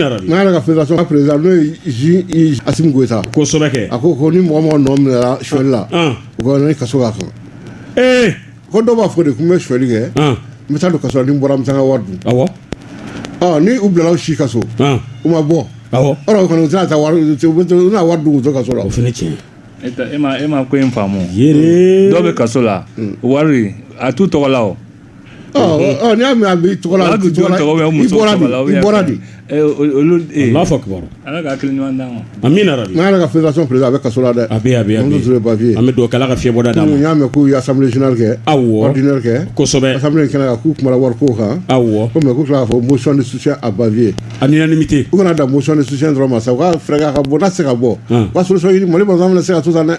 n'a yɛrɛ ka fédération ka président n'o ye Ju i Assimi Goita kosɛbɛ kɛ a ko ko ni mɔgɔ mɔgɔ nɔ minɛra suɲɛli la an u ka ni kaso ka kan ee ko dɔw b'a fɔ de ko n bɛ suɲɛli kɛ an n bɛ taa don kaso la ni n bɔra n bɛ taa n ka wari dun awɔ ɔ ni u bilala u si kaso an u ma bɔ awɔ ɔrɔ o kɔni u tɛna taa wari u tɛ- u bɛ to- u bɛna wari dun k'u to kaso la o fana tiɲɛ e tɛ- e ma e ma ko in faamu yɛrɛ dɔw bɛ kaso la wari a t'u tɔgɔ la o N y'a mɛn a bɛ tɔgɔ la bɛ jɔn tɔgɔ bɛ muso bɔra i bɔra de n'a fɔ kibaru ala ka hakili ɲuman d'a ma a min na n'a yɛrɛ ka fɛnsa feere a bɛ kaso la dɛ a bɛ a bɛ an bapi an bɛ don kala ka fiɲɛyɛnbɔda d'a ma y'a mɛn k'u ye samiyɛ zunari kɛ aw wariina kɛ kosɛbɛ sa in kɛnɛ k'u kuma wari ko kan aw wɔ kɔmi k'u tila k'a fɔ mosɔn ni su a bapiye a ni ni ce u kana da mosɔn ni susi dɔrɔn ma sa u ka fɛɛrɛ ka bɔ se ka bɔ ka sososɔ mali bɔ se ka tu san dɛ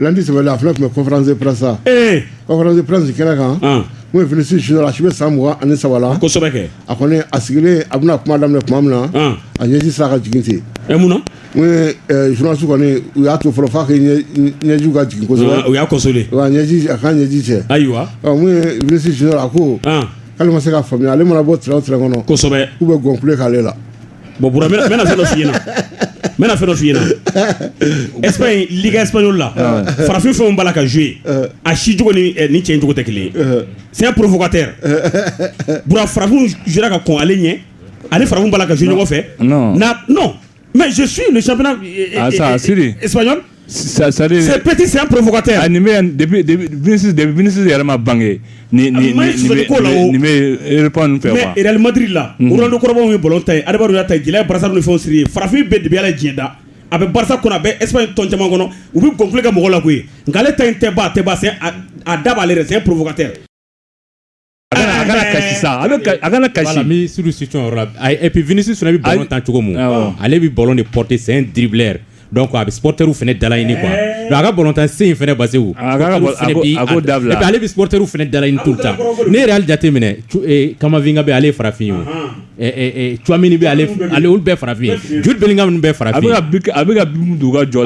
Lundi sɛbɛn a fana tun bɛ conférence de presse la conférence de presse kɛnɛ kan n'o ye Vinicius a si bɛ san mugan ani saba a kɔni a sigilen a bɛna kuma daminɛ tuma min na a ɲɛji sera ka jigin ten mun journalistew kɔni u y'a to fɔlɔ fo ɲɛji ka jigin kosɛbɛ u y'a ɲɛji a ka ɲɛji cɛ ayiwa Vinicius a ko k'ale ma se ka faamuya ale mana bɔ terrain o terrain kɔnɔ kosɛbɛ u bɛ gonfler k'ale la Bon bɔn bɛna fɛn dɔ fɲɛna n bɛna fɛn dɔ fɲɛna esp in liigka esp la farafin fɛnw b'a la ka zo ye a si cogo ni cɛ cogo tɛ kelen sɛ porofkatɛ farafin ka kɔn ale ɲɛ ani farafin'a ka so ɲɔgɔn fɛ mɛ su ninnu sap Ce petit, c'est un provocateur. Ah, Vinicius yɛrɛ ma bange nin bɛ répondre fɛ quoi mais Real Madrid la, unhun, Ronaldo kɔrɔba ye ballon tan yen, Adebayor y'a tan yen, Jila ye brassard ni fɛnw siri yen, farafin bɛɛ de bɛ Ala ye diɲɛ dan, a bɛ Barça kɔnɔ, a bɛ Espagne tɔn caman kɔnɔ, u bɛ gonfler kɛ mɔgɔw la koyi, nka ale ta in tɛ ban, a tɛ ban, c'est un, a da b'ale yɛrɛ la, c'est un provocateur A kana kasi bɛsi bɛ tan cogo ale bɛ balo ni pte sen dila a bɛ pɔterw fana dala ɲini kuwa a ka batan sen fana basi da ale bɛ pɔterw fana dala tu ta ne yɛrɛ jateminɛ kamafin bɛ ale farafin ye omini bɛɛ farafin joli bɛ fara a bɛ ka jɔ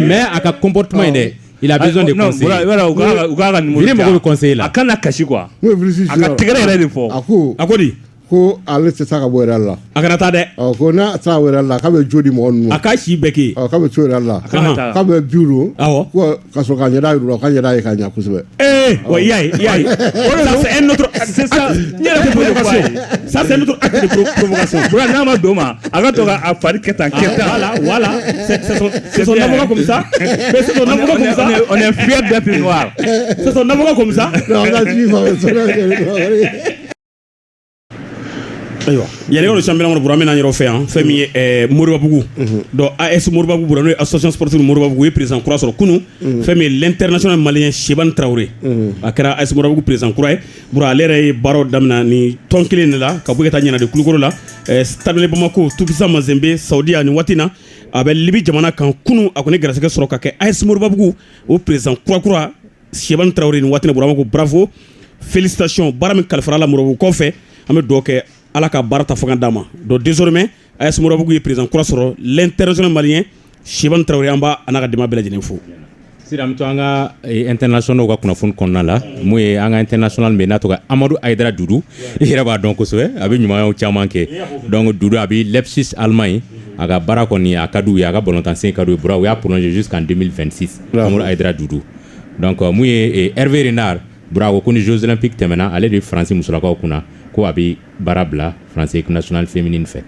mɛ a ka kɔnptuma in dɛ Il a besoin de Non, conseils. Bura- Bura, u ka- u ka ka numéro Vini mago de bɛ conseil la. a kana kasi quoi N'o ye Vinicius a ka sira- tɛgɛrɛ yɛrɛ de fɔ a ko a ko di ko ale tɛ taa ka bɔ Real la a kana taa dɛ ɔ ko n'a sera ka bɔ Real la k'a bɛ jo di mɔgɔ ninnu ma a k'a si bɛɛ kɛ ɔ k'a bɛ to Real la kana taa. k'a bɛ biw don Awɔ. ko ka sɔrɔ k'a ɲɛda yir'u la k'a ɲɛda ye ka ɲɛ kosɛbɛ Eh, ouais, il y a, il y a. Oh là là, c'est un autre. C'est ça. Il y a la provocation. Ça, c'est un autre acte de pro- provocation. Bura, n'a ma d'o ma, a ka dɔn a fari kɛ tan kɛ tan voilà voilà c'est c'est son avocat comme ça mais c'est son avocat comme ça on est fier d'être noir c'est son avocat comme ça non on a suivi ayiwa yanni ka don championnat kɔnɔ bura min n'an yɛrɛ fɛ yan fɛn min ye ɛɛ moribabugu donc as moribabugu bura n'o ye association sportive moribabugu u ye président kura sɔrɔ kunun fɛn min ye l'international malien cheibane traoré a kɛra as moribabugu président kura ye Bura ale yɛrɛ ye baaraw daminɛ ni tɔn kelen de la ka bɔ ka taa Nianan de Kulukoro la Stade malien Bamako Tout Puissant Mazembe Saudiya nin waati na a bɛ libi jamana kan kunun a kɔni garisɛgɛ sɔrɔ ka kɛ AS Moribabugu o président kura kura Cheibane Traoré nin waati na Bura ko bravo félicitations baara min kalifara a la Moribabugukaw fɛ an bɛ dugawu kɛ ala ka baara ta fanga d'a ma donc désormais A ye sumaworoorobugu ye perez kura sɔrɔ tɛso mali ye siban tarawele an b' an ka di bɛɛ lajɛlen fo sira an ka ntɛso ka kunnafoni kɔnɔna la n'o ye an ka ntso min n'a tɔgɔ amadu ada duuru i yɛrɛ b'a dɔn kosɛbɛ a bɛ ɲuman caman kɛ dɔn du a bɛ lɛpsi alima ye a ka baara kɔni a ka ye a ka bɔntansen ka u bɔra u y'a psi ka denmisɛnninsi a duuru n'u ye ɛrɛe n'a bura ko ni zsonp tɛmɛna ale de ye faransi musolakaw kunna ko a baara bila France équipe nationale féminine fɛ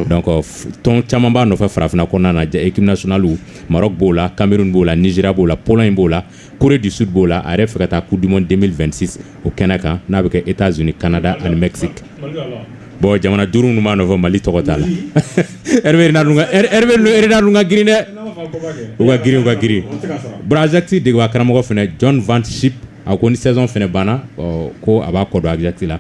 donc euh, tɔn caman b'a nɔfɛ farafinna kɔnɔna na équipe nationale Maroc b'o la Cameroun b'o la Nigeria b'o la Pologne b'o la Corée du Sud b'o la a yɛrɛ fɛ ka taa coupe du monde 2026 o kɛnɛ kan n'a bɛ kɛ États-Unis Canada ani Mexique bon jamana duuru ninnu b'a nɔfɛ Mali tɔgɔ t'a la Hervé Renard ninnu ka Hervé Renard ninnu ka girin dɛ u ka girin u ka girin bon Ajax degebaa karamɔgɔ fana John Van Schip a ko ni saison fana banna ko a b'a kɔ don Ajax la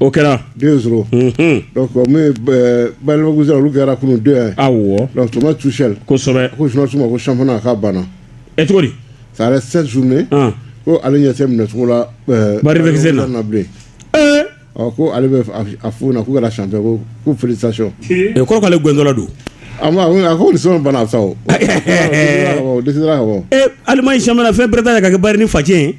o kɛra den sɔrɔ balima olu kɛra kun don yan tuma tu seli kosɛbɛ ko suma ko sanfana ka banna e cogo sare seli sun ne ko ale ɲɛ minɛcogo la na bilen ɔ ko ale bɛ a fo na k'u kɛra san ko ko felicitations k'ale gɛnla don a ko sɔn bana sa o dɛsɛsira ka bɔ alima in sa fɛn bɛɛ ka kɛ ba ni facɛ ye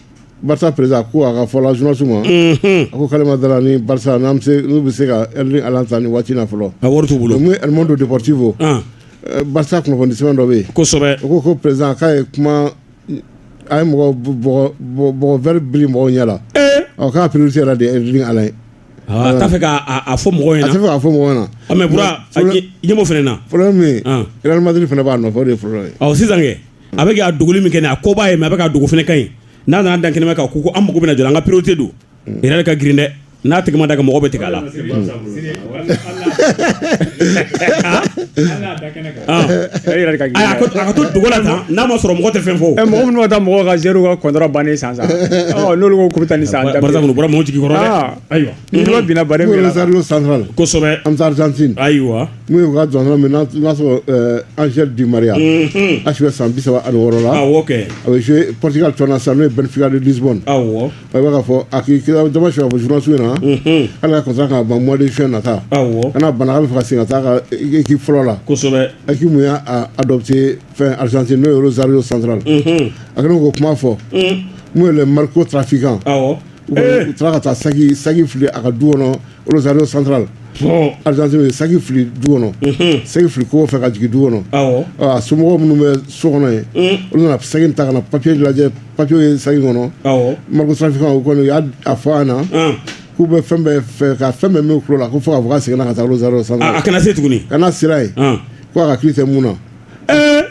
Barça président ko a ka fɔ la journaliste ma. Unhun. A ko k'ale ma d'a la ni Barça n'an bɛ se n'u bɛ se ka Erling Haaland ta nin waati in na fɔlɔ. A wari t'u bolo. Donc, El Mundo Deportivo. An. eh, Barça kunnafoni sɛbɛn dɔ bɛ yen. Kosɛbɛ. O ko ko président k'a ye kuma a ye mɔgɔ bɔgɔ bɔgɔ bɔgɔ vɛri biri mɔgɔw ɲɛ la. Ee. Ɔ k'a priorité yɛrɛ de ye Erling Haaland ye. A t'a fɛ k'a a- a fɔ mɔgɔw ɲɛna. A tɛ fɛ k'a fɔ mɔgɔw ɲɛna. Ɔ, mais Bura, Donc, problème- ɲɛ- ɲɛmɔgɔ fana na. Problème min ye, An. Real Madrid fana b'a nɔfɛ, o de ye problème ye. Ɔ, sisan kɛ. a bɛ k'a dogoli min kɛ nin a ko b'a ye mais a bɛ k'a dogo fana ka ɲi n'a nana dan kɛnɛma kan ko an mako bɛna jɔ a la an ka priorité don Real ka girin dɛ n'a tigi ma da ka mɔgɔ bɛ tigɛ a la ka to dogo la tan n'a ma sɔrɔ mɔgɔ tɛ fɛn fɔ mɔgɔ minnu taa mɔgɔw ka joueur ka contrat bannen san san n'olu ko k'u bɛ taa ni san Barça kɔni bɔra mɔgɔw jigi kɔrɔ ayiwa binna bare min na Rosario Central kosɛbɛ an bɛ taa Argentine ayiwa N'u y'u ka jɔn sɔrɔ min n'a sɔrɔ anzri di maria a bɛ san bisa ani wɔɔrɔ la a bɛ psi tɔn sa n'o ye bɛnfin ni disi a bɛ ka fɔ a k'i kira dama su a fɔ smansiw na ala ka ka ban mɔdi fi na taa kana bana a bɛ fɔ sen ka taa k'i fɔlɔ la kosɛbɛ a k'i mun y'a dɔ bɛ se fɛn alizsi n'o ye zari ye santurala a ko kuma fɔ n'u ye mariko tafinkan u taara ka taa saki fili a ka du kɔnɔ Rosario Central Argentine ye saki fili du kɔnɔ saki fili kogo fɛ ka jigin du kɔnɔ a somɔgɔw minnu bɛ so kɔnɔ ye olu nana saki in ta ka na papiye lajɛ papiye ye saki kɔnɔ narcotrafiquants u kɔni u y'a fɔ an na k'u bɛ fɛn bɛɛ fɛ ka fɛn bɛɛ min la ko fo k'a fɔ k'a seginna ka taa Rosario Central a kana se tuguni ka na sira ye ko a ka hakili tɛ mun na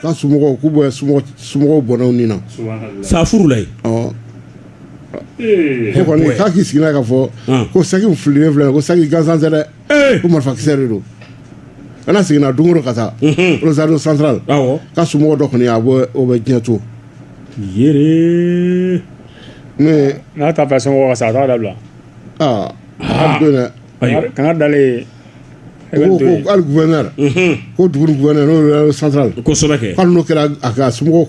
k'a somɔgɔw k'u b'a somɔgɔw bɔnɛ ni na sa furu la ne kɔni k'a k'i sigi n'a ye k'a fɔ ko saki fililen filɛ ko saki gansan tɛ dɛ ko marifakisɛ de don ko n'a seginna don o don ka taa Rosario Central k'a somɔgɔ dɔ kɔni o bɛ diɲɛ to n'a t'a fɛ somɔgɔ ka sa a t'a dabila a don dɛ ko n'a dalen ko hali gouverneur ko dugu gouverneur n'o ye Central kosɛbɛ kɛ hali n'o kɛra a ka so